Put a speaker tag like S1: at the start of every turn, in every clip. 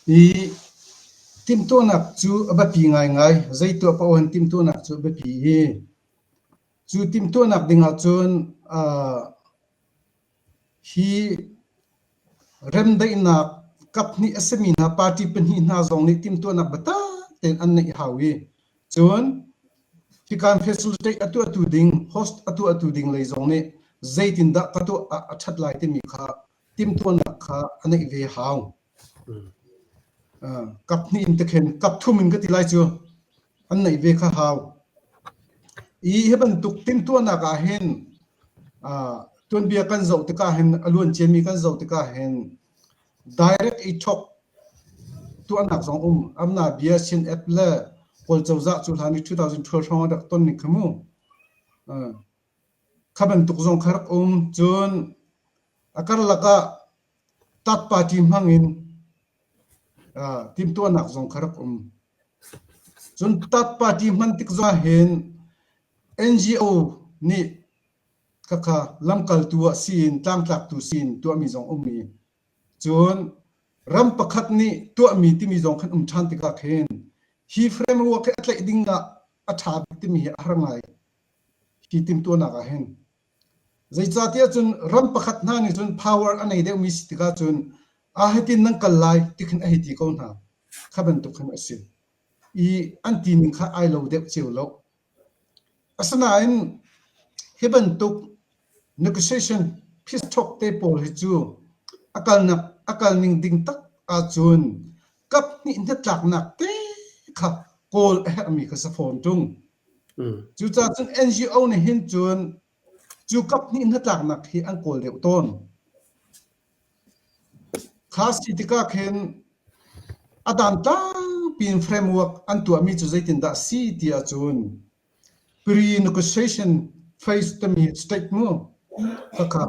S1: Hi timhtuahnak cu a biapi ngaingai. Zei tuah paoh in timhtuahnak cu a biapi i cu timhtuahnak ding ahcun aa hi remdaihnak kaphnih a simi hna, party pahnih hna zong nih timhtuahnak biatak tein an neih hau i cun hikaan facility a tuahtu ding, host a tuahtu ding lei zong nih zeitindah ka tuah ah a ṭhat lai timi kha timhtuahnak kha a neih ve hau. Kap hnih in te khin kap thum in ka ti lai cu an neih ve kha hau. I hi bantuk timhtuahnak ah hin tuanbia kan zoh tikah hin a luan ciami kan zoh tikah hin direct i thok tuahnak zong um amna bia sin app le kawl cozah cu hlan i 2012 hrawng a rak ton ning kha mu Kha bantuk zong kha rak um. Cun a karlak ah Tat Party hmangin uh, timhtuahnak zong kha rak um. Cun Tat Party hman tik zahin NGO nih khakha lamkaltu ah siin, tlangtlaktu siin tuahmi zong um i, cun ram pakhat nih tuahmi timi zong kan um ṭhan tikah khin hi frame ruak hi a tlaih ding ah a ṭha bik timi hi a har ngai. hi timhtuahnak ah hin zeicahtiah cun ram pakhat hna nih cun power a nei deuhmi si tikah cun a hitin nan kal lai ti khin a hei ti ko hna kha bantuk khin a si i an ti ning kha ai lo deuh cio lo asinain hi bantuk negotiation peace talk te pawl hi cu a kalnak a kal ning ding tak ahcun kap hnih hnatlaknak te kha kawl a herhmi kha sa fawn ṭung. Mm. Cucaah cun NGO nih hin cun cu kap hnih hnatlaknak hi an kawl deuh tawn. Kha si tikah khin a dan tampi in framework an tuahmi cu zeitindah si ti ahcun pre-negotiation phase tami statement khakha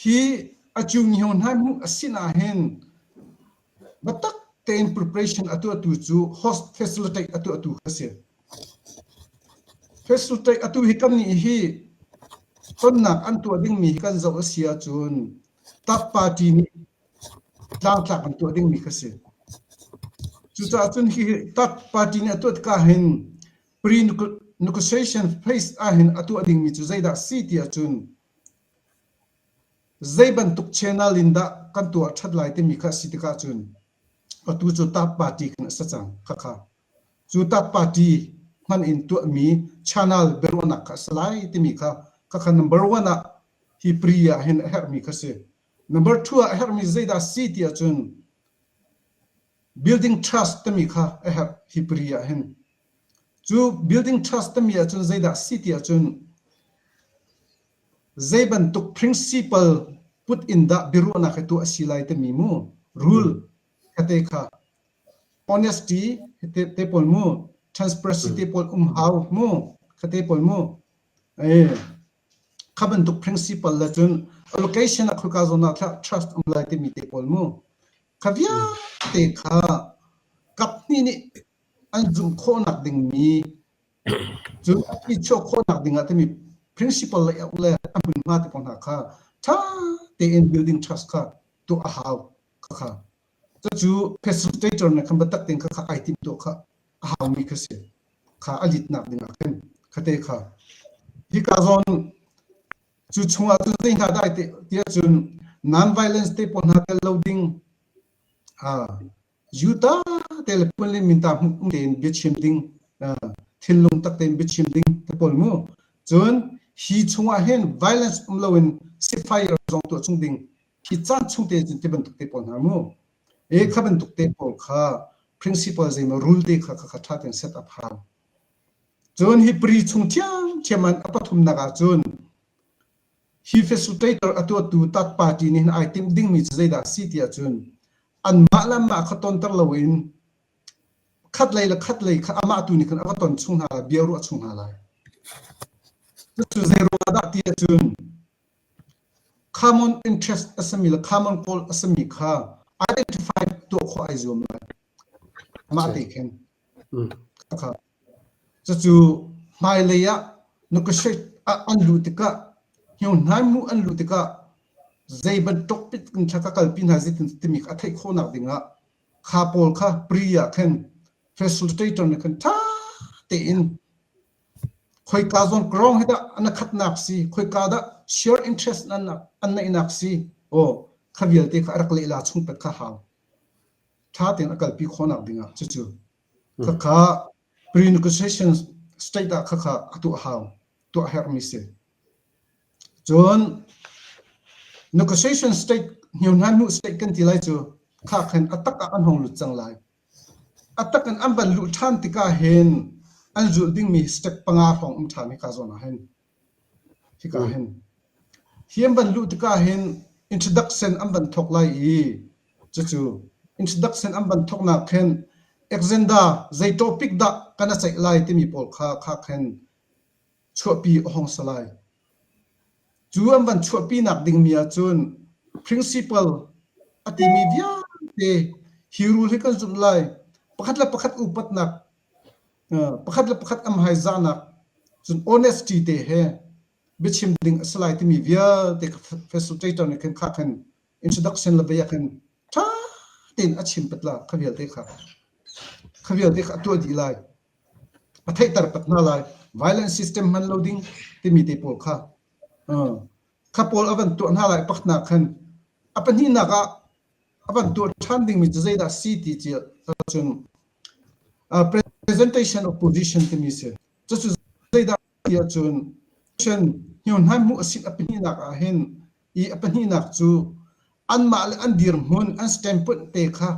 S1: Hi a cunghio hnai hmuh a si nain biatak tein preparation a tuahtu cu host facilitate a tuahtu a si. Facilitate a tu hi kan nih hi tonnak an tuah dingmi hi kan zoh a si ahcun TAP party nih tlangtlak an tuah dingmi kha si. Cucaah cun hi TAP party nih a tuah tikah hin pre-negotiation phase ah hin a tuah dingmi cu zeidah si ti ahcun Zei bantuk channel in dah kan tuah ṭhat lai timi kha a si tik ahcun atu cu TAP Party kan a si cang khakha. Cu TAP Party hman in tuahmi channel biaruahnak kha a si lai timi kha khakha number one ah hi pri ah hin a herhmi kha si. Number two ah a herhmi zeidah a si ti ahcun Building trust timi kha a herh hi pari ah hin. Cu building trust timi ahcun zeidah si ti ahcun zei bantuk principle put in dah biaruahnak hi tuah a si lai timi mu rule kate kha honesty te, te pawl mu transparency te pawl um hau mu kha te pawl mu eh Kha bantuk principle le cun allocation ah khawika zawn ah tlah trust um lai timi te pawl mu. Kha vialte kha kaphnih nih an zumh khawhnak dingmi cu i chuah khawhnak dingah timi principle le auh le a hmunhma te pawl hna kha ṭha tein building trust kha tuah a hau. Khakha. Cucu facilitator nih khan biatak tein kha kha ai timh tuah kha a haumi kha si. Kha a litnak dingah khin khate kha. Hika zawn cu chungah tu zei hna dai te tiah cun non-violence te pawl hna tel lo ding yuta te le puan le minta um tein biachim ding thinlung tak tein biachim ding te pawl mu cun hi chungah hin violence um loin sifai rak zong tuah chung ding Hi caan chung te cun te bantuk te pawl hna mu. E kha bantuk te pawl kha principal zeimaw rule te kha kha tha ten set up hau. Cun hi pari chung thiam thiam an a pathumnak ah cun hi facilitator atuatu tat party nih ai tim dingmi cu zeidah si tiah cun an mah le mah kha tonter loin khat lei le khat lei kha amah tu nih khan a va ton chung hna lai bia ruah chung hna lai. Cucu zei ruang dah ti cun Common interest a sami le common goal a sami kha identified tuah khawh ai zuam lai. Mah te khin. Kha. Cucu hmailei ah negotiate an luh tikah hniuhnai mu an luh tikah zei bantuk pit in thla ka kalpi hna zit timi a theih khawhnak dingah kha pawl kha pre ah khin facilitator nih khan ṭha tein Khoika zawn Krong hi dah a na khatnak si? Khoika dah share interest an neihnak si? Aw, kha vialte kha a rak lehla chung pet kha hau. Ṭha tein a kalpi khawhnak dingah cucu. Khakha prenegotiation state ah khakha a tuah hau, tuah herhmi si. Cun negotiation state, hniu hna hnu state kan ti lai cu, kha khin a tak ah an hong lut cang lai. A tak in an van luh ṭhan tikah hin an zulh dingmi step panga hrawng um ṭhan hika zawn ah hin. Hika hin. Hi an van luh tikah hin introduction an van thawk lai i cucu introduction an van thawknak khin Alexander zei topic dah kana ceih lai timi pawl kha kha khin chuahpi a hong si lai. Cu an van chuahpinak dingmi ahcun principal a timi vialte hi rul hi kan zumh lai pakhat le pakhat upatnak pakhat le pakhat am hai zahnak cun honesty te he biachim ding a si lai timi vialte Professor Taito nih khan kha khan introduction le bia khan ṭha tein a chim patla kha vialte kha kha vialte kha a tuah dih lai a theihter tak hna lai violent system hman lo ding timi te pawl kha kha pawl a van tuah hna lai paknak khan a pahnihnak ah a van tuah ṭhan dingmi cu zeidah si ti ci cun presentation of position timi si cucu zeidah ti ahcun position hniawnhnan hmuh a si a pahnihnak ah hin i a pahnihnak cu anmah le an dirhmun an standpoint te kha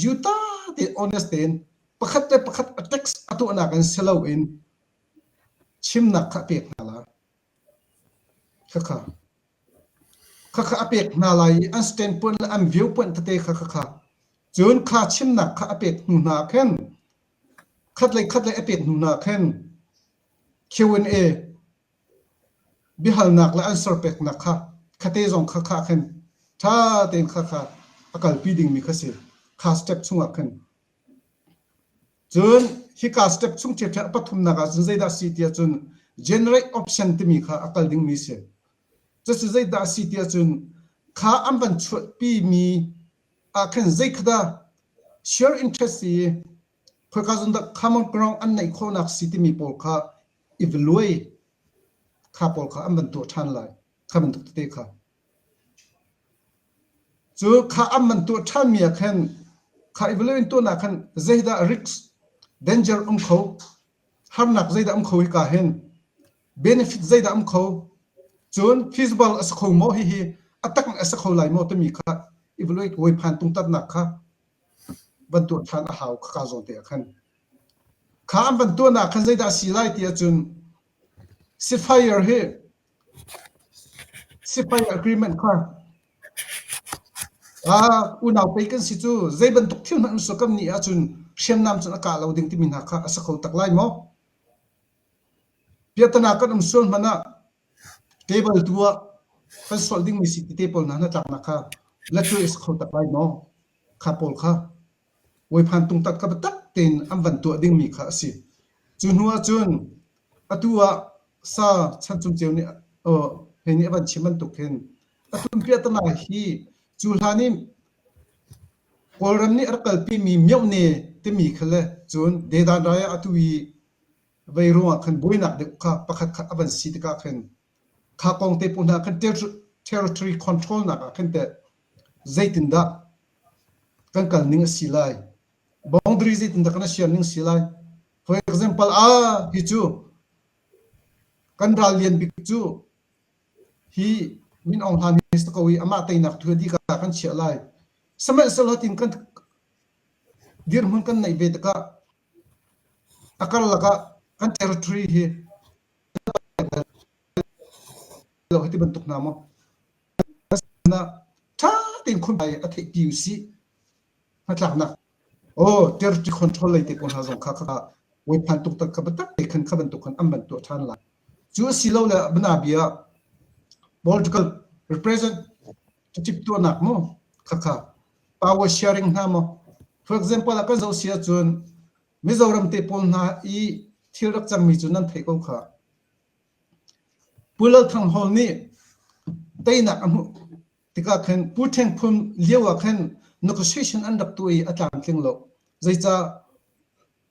S1: Yuta te honest tein pakhat le pakhat a text a tuahnak in si loin chimnak kha a pek hna lai. Khakha. Khakha a pek hna lai i an standpoint le an viewpoint tete kha khakha. Cun kha chimnak kha a pek hnu hna khin khat le khat le a pek hnu hna khin Q&A Biahalnak le an serpeknak kha khaate zong khakha ah khan ṭha tein khakha a kalpi dingmi kha si. Kha step chungah khan. Cun hika step chung ṭhiaṭhiah pathumnak ah cun zeidah a si ti ahcun generate option timi kha a kal dingmi si. Cucu zeidah a si ti ahcun kha an van chuahpimi ah khan zeikhat dah share interest i khoika zong dah common ground an neih khawhnak si timi pawl kha i va luai kha pawl kha an van tuah ṭhan lai kha bantuk tete kha cu kha an van tuah ṭhanmi ah khan kha i valuin tuahnak khan zeidah risks danger um kho harnak zeidah um kho hi ka hin benefit zeidah um kho cun feasible a si kho maw hihi a tak a si kho lai maw timi kha i valuit wai phan tung tatnak kha van tuah ṭhan a hau. Khaka zawn te ah khan. Kha an van tuahnak khan zeidah a si lai ti ahcun ceasefire hi ceasefire agreement kha ah unau pei kan si cu zei bantuk thil hmanh an suakam ni ahcun hriamnam cun a kah lo ding timi hna kha a si kho tak lai maw? Biatanak kan um sual hmanh ah table tu ah kan sualh dingmi si tete pawl hna hnatlaknak kha la tuai a si kho tak lai maw? Kha pawl kha voiphan tungtat ka biatak tein an van tuah dingmi kha a si. Cu hnu ahcun atu ah sa chancung ceu nih he nih a van chim bantuk hin a tumpiatana hi cu hlan i Kawlram nih a rak kalpimi Myohne timi kha le cun Dedan rai ah atu i Vei ruangah khan buainak deuh kha pakhatkhat a van si tikah khin kha kong te hna khan territory control nakah khin teh zeitindah kan kal ning a si lai boundary zeitindah kan siar ning si lai for example ah hi cu kan ral lian bik cu hi min ong hlan hi ko i amah teinak thu di ka kan chiah lai sihmanhsehlaw tin kan dirhmun kan neih ve tikah A karlak ah kan territory hi hei ti bantuk hna maw na sinah ṭha tein khunbai a theih ti usih hnatlaknak aw territory control lei te pawl hna zong kha kha voi phan tuk tak kha biatak te khan kha bantuk khan an ban tuah ṭhan lai cu asilole bana bia political represent cip tuahnak maw khakha pa u sia ring hna maw for example a kan zoh si ahcun mizoram te pawl hna i thil rak cangmi cu nan theih ko kha pu lal thang hall nih teinak a hmuh tikah khan pu theng phun lio ah khan negotiation an rak tu i a tlamtling lo zeicah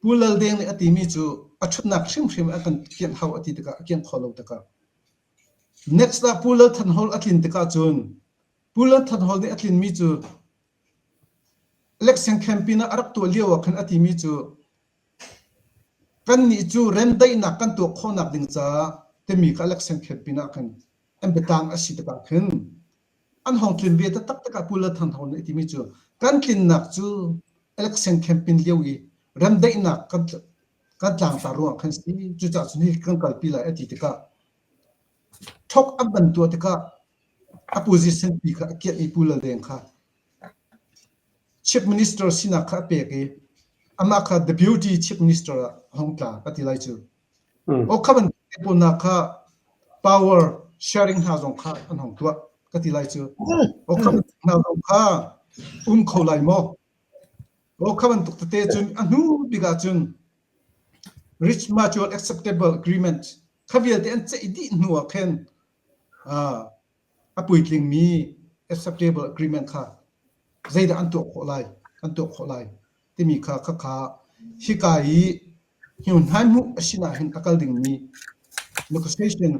S1: pu lal deng nih a timi cu a ṭhutnak hrimhrim a kan kianh hau a ti tikah a kianh kho lo tikah next ah pu lal than hall a tlin tikah cun Pool an that hall nih a tlinmi cu election campaign ah a rak tuah lio ah khan a timi cu kannih cu ren daihnak kan tuah khawhnak ding caah timi kha election campaign ah khan an biatang a si tikah khin an hong tlin ve ta taktak ah Pool Than Hon nih timi cu kan tlinnak cu election campaign lio i remdaihnak kan kan tlangta ruang kan si cucah cun hi kan kalpi lai a ti tikah Thawk an van tuah tikah a position pi kha a kiah i Pu Laldeng kha Chief Minister sinak kha a pek i amah kha The Beauty Chief Minister ah a hung tla ka ti lai cu. O kha ban pawnnak kha power sharing hna zong kha an hong tuah ka ti lai cu. O kha hna zong kha um kho lai maw? O kha bantuk tete cun a hnu bik ah cun Rich Mutual Acceptable Agreement kha vialte an ceih dih hnu ah khin a puitlingmi acceptable agreement kha zeidah an tuah khawh lai an tuah khawh lai timi kha khakha hika i hnuhnai hmuh a sinah hin a kal dingmi negotiation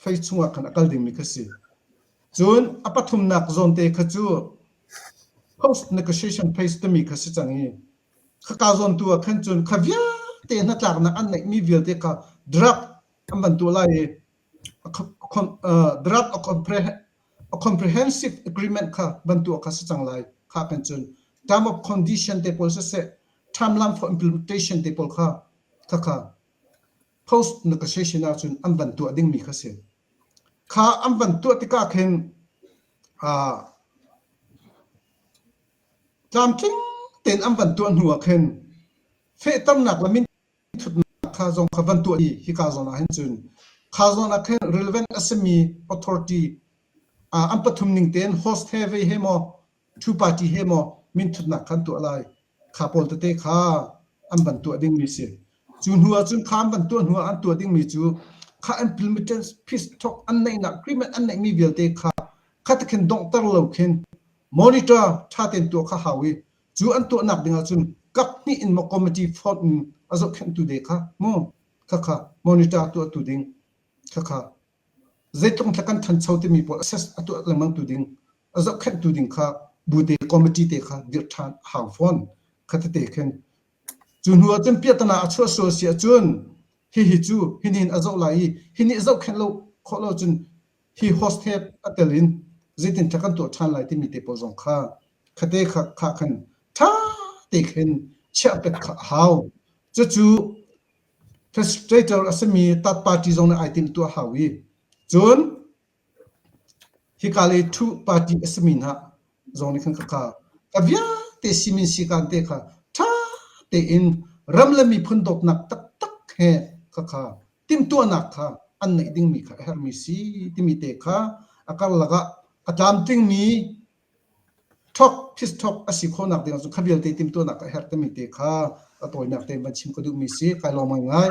S1: phase chungah khan a kal dingmi kha si cun a pathumnak zawnte kha cu post negotiation phase timi kha si cang i khaka zawntu ah khan cun kha vialte hnatlaknak an neihmi vialte kha draft an van tuah lai i draft a comprehensive agreement kha van tuah kha si cang lai kha kan cun term of condition te pawl siseh timeline for implementation te pawl kha khakha post negotiation ah cun an van tuah dingmi kha si kha an van tuah tikah khin Tlamtling tein an van tuah hnuah khin fehternak le minthutnak kha zong kha van tuah i hika zawn ah hin cun kha zawn ah khin relevant a simi authority uh, an pathum ning tein host he ve he maw two party he maw minthutnak khan tuah lai kha pawl tete kha an van tuah dingmi si cu hnu ah cun kha an van tuah hnu ah an tuah dingmi cu kha intermittent peace talk an neihnak agreement an neihmi vialte kha kha tikhin donghter lo khin monitor ṭha tein tuah kha hau i cu an tuahnak dingah cun kap hnih in maw committee fonh in a zohkhenhtu de kha mu khakha monitor tuahtu ding khakha zeitlung tlak kan thancho timi pawl assess a tuah lengmang tu ding a zohkhenhtu ding kha bute committee te kha dirh ṭhan hau fawn khatete khin cu hnu ahcun piatana a chuah sual si ahcun hihi cu hinin a zoh lai i hini zohkhenh lo khawh lo cun hi hostet a tel in zeitindah kan tuah ṭhan lai timi te pawl zong kha khate kha, kha khan ṭha tein chiah pek kha a hau. Cucu frustrator a simi third party zong nih ai tim tuah hau i cun hika le thu party a simi hna zong nih khan khakha ka vialte simin sikan te kha ṭha tein ram le miphun dawtnak taktak he khakha timhtuahnak kha an neih dingmi kha a herhmi si timi te kha a karlak ah a tlamtlingmi thok phis thok a si khawhnak ding ah cun kha vialte timhtuahnak a herh timi te kha a tawinak te van chim ka duhmi si kai lawm ngai ngai